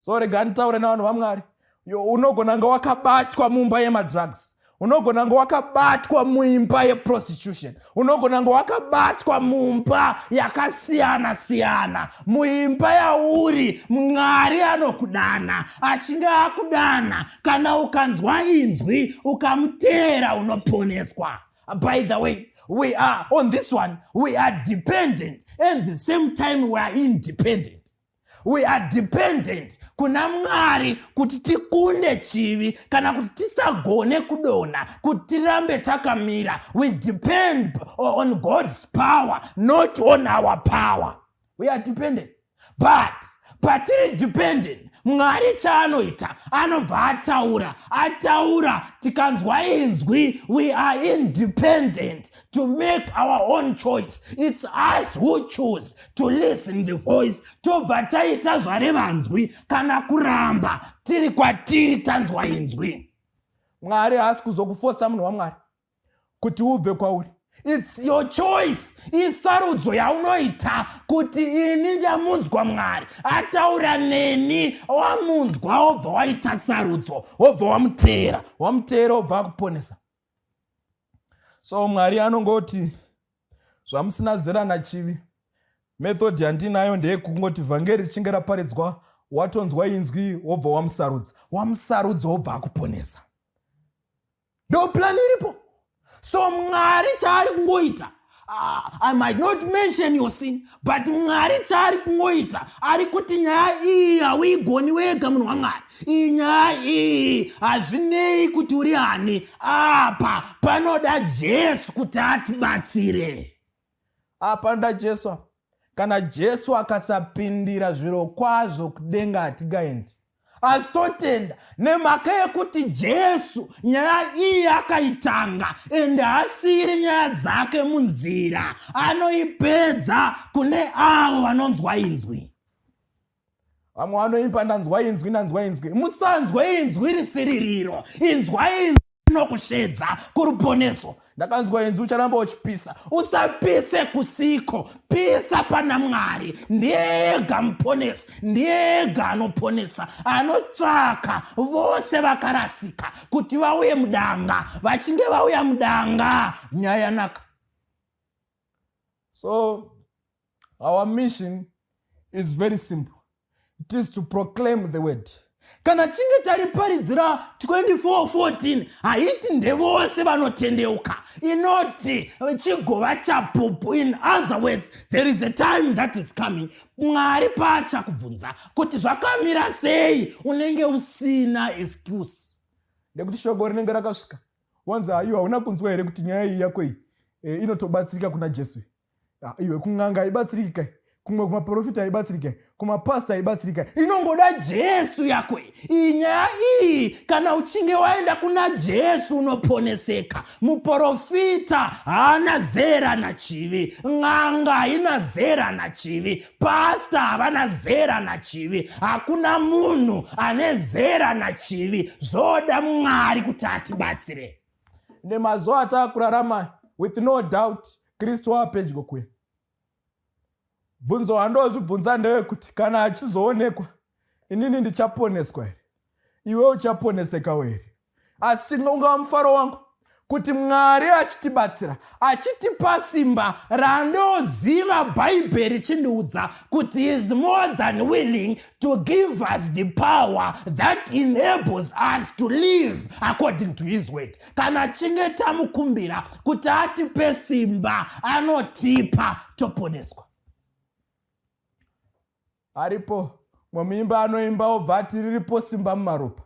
so rega nditaure navanhu vamwari unogona nga wakabatwa mumba yemadrugs unogona nga wakabatwa muimba yeprostitution unogona nga wakabatwa mumba yakasiyana siyana muimba yauri mwari anokudana achinge akudana kana ukanzwa inzwi ukamuteera unoponeswa by the way we are on this one we are dependent and the same time we are independent we are dependent kuna mwari kuti tikunde chivi kana kuti tisagone kudonha kuti tirambe takamira we depend on god's power not on our power we are dependent but patiri dependent mwari chaanoita anobva ataura ataura tikanzwa inzwi we are independent to make our own choice its us who choose to listen the voice tobva taita zvare vanzwi kana kuramba tiri kwatiri tanzwa inzwi mwari haasi kuzokufosa munhu wamwari kuti ubve kwauri its your choice isarudzo yaunoita kuti ini ndamunzwa mwari ataura neni wamunzwa wobva waita sarudzo wobva wamuteera wamuteera wobva akuponesa so mwari anongoti zvamusina zera nachivi method yandinayo ndeyekungoti vhangeri richinge raparidzwa watonzwa inzwi wobva wamusarudza wamusarudza wobva akuponesa ndoplan iripo so mwari chaari kungoita Ah, I might not mention your sin, but Mwari chaari kungoita ari kuti nyaya iyi hauigoni wega munhu waMwari. Iyi nyaya iyi hazvinei kuti uri ani, apa panoda Jesu kuti atibatsire. Apa nda Jesu apa. kana jesu akasapindira zviro kwazvo kudenga hatigaendi asi totenda nemhaka yekuti jesu nyaya iyi akaitanga ende haasiri nyaya dzake munzira anoipedza kune avo vanonzwa inzwi vamwe vanoimba ndanzwa inzwi ndanzwa inzwi musanzwa inzwi risiririro inzwa inzwi rinokusvedza kuruponeso ndakanzwa inzwi ucharamba uchipisa usapise kusiko pisa pana mwari ndiyega muponesi ndiyega anoponesa anotsvaka vose vakarasika kuti vauye mudanga vachinge vauya mudanga nyaya yanaka so our mission is very simple it is to proclaim the word kana chinge tariparidzira 2414 haiti ndevose vanotendeuka inoti chigova chapupu in other words there is a time that is coming mwari paachakubvunza kuti zvakamira sei unenge usina excuse nekuti shoko rinenge rakasvika wanzi haiwa hauna kunzwa here kuti nyaya iyi yako iyi e, inotobatsirika kuna jesu ah, iwe kun'anga haibatsiriki kai kumwe kumaprofita haibatsiriki kai kumapasta haibatsiriki kai inongoda jesu yako iyi nyaya iyi kana uchinge waenda kuna jesu unoponeseka muprofita haana zera nachivi n'anga haina zera nachivi pasta havana zera nachivi hakuna munhu ane zera nachivi zvoda mwari kuti atibatsire nemazuva ataakurarama with no doubt kristu waapedyo kuya bvunzo handozvibvunza ndewekuti kana achizoonekwa inini ndichaponeswa here iwe uchaponesekawo here asi ungava mufaro wangu kuti mwari achitibatsira achitipa simba randoziva bhaibheri richindiudza kuti is more than willing to give us the power that enables us to live according to his word kana chinge tamukumbira kuti atipe simba anotipa toponeswa aripo mwemuimba anoimba obva ati riripo simba mumaropa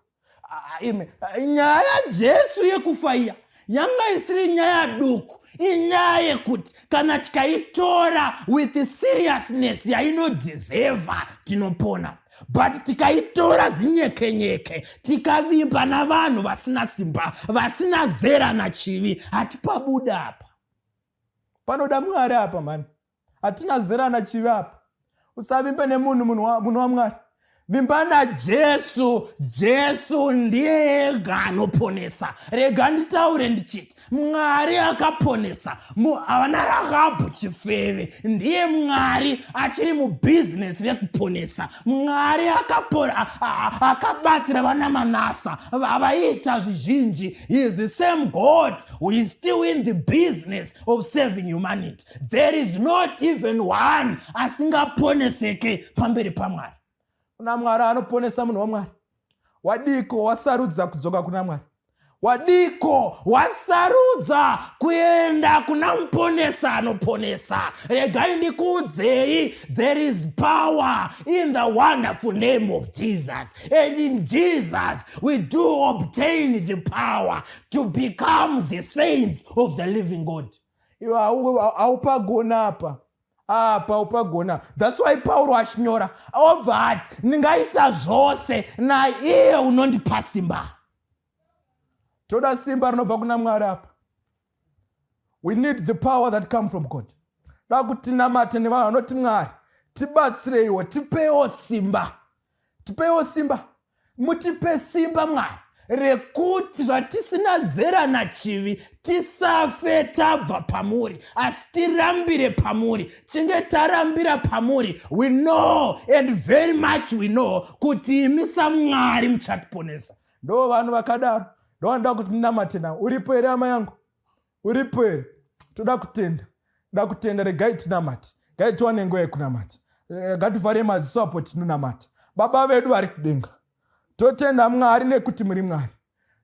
nyaya yajesu yekufa iya yanga isiri nyaya duku inyaya yekuti kana tikaitora with seriousness yainodiseva tinopona but tikaitora zinyekenyeke tikavimba navanhu vasina simba vasina zera nachivi hatipabuda apa panoda mwari apa mani hatina zera nachivi apa usavimbe nemunhu munhu wamwari vimba najesu jesu ndiye ega anoponesa rega nditaure ndichiti mwari akaponesa havana rakabhu chifeve ndiye mwari achiri mubhizinesi rekuponesa mwari akabatsira vana manasa vavaita zvizhinji he is the same god who is still in the business of saving humanity there is not even one asingaponeseke pamberi pamwari kuna mwari anoponesa munhu wamwari wadiko wasarudza kudzoka kuna mwari wadiko wasarudza kuenda kuna muponesa anoponesa regai ndikuudzei there is power in the wonderful name of jesus and in jesus we do obtain the power to become the saints of the living god iwe haupagona apa apa upagona thats why pauro achinyora obva ati ndingaita zvose naiye unondipa simba toda simba rinobva kuna mwari apa we need the power that come from god dakutinamate nevanhu vanoti mwari tibatsireiwo tipewo simba tipeiwo simba mutipe simba mwari rekuti zvatisina zera nachivi tisafe tabva pamuri asi tirambire pamuri chinge tarambira pamuri we know and very much we know kuti imi samwari muchatiponesa ndo vanhu vakadaro ndovanoda kuti ndinamate navo uripo here ama yangu uripo here toda kutenda da kutenda regai tinamata gai tiwane nguva yekunamata eh, ngativhare maziso apo tinonamata baba vedu vari kudenga totenda mwari nekuti muri mwari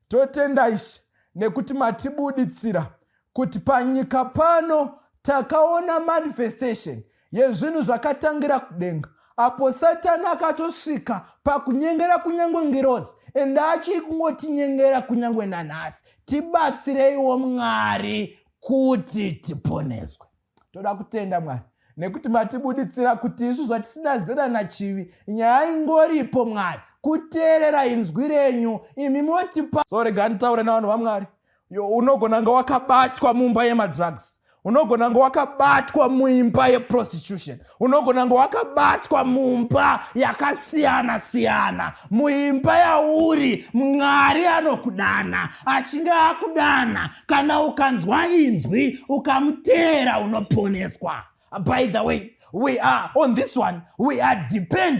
totenda ishe nekuti matibuditsira kuti panyika pano takaona manifestation yezvinhu zvakatangira kudenga apo satani akatosvika pakunyengera kunyange ngirozi ende achiri kungotinyengera kunyange nanhasi tibatsireiwo mwari kuti tiponeswe toda kutenda mwari nekuti matibuditsira kuti isu zvatisina zera nachivi nyaya ingoripo mwari kuteerera inzwi renyu imi motipa so rega nditaure navanhu vamwari yo unogona kunge wakabatwa mumba yemadrugs unogona kunge wakabatwa muimba yeprostitution unogona kunge wakabatwa mumba yakasiyana siyana muimba yauri mwari anokudana achinge akudana kana ukanzwa inzwi ukamuteera unoponeswa by the way we are on this one we are dependent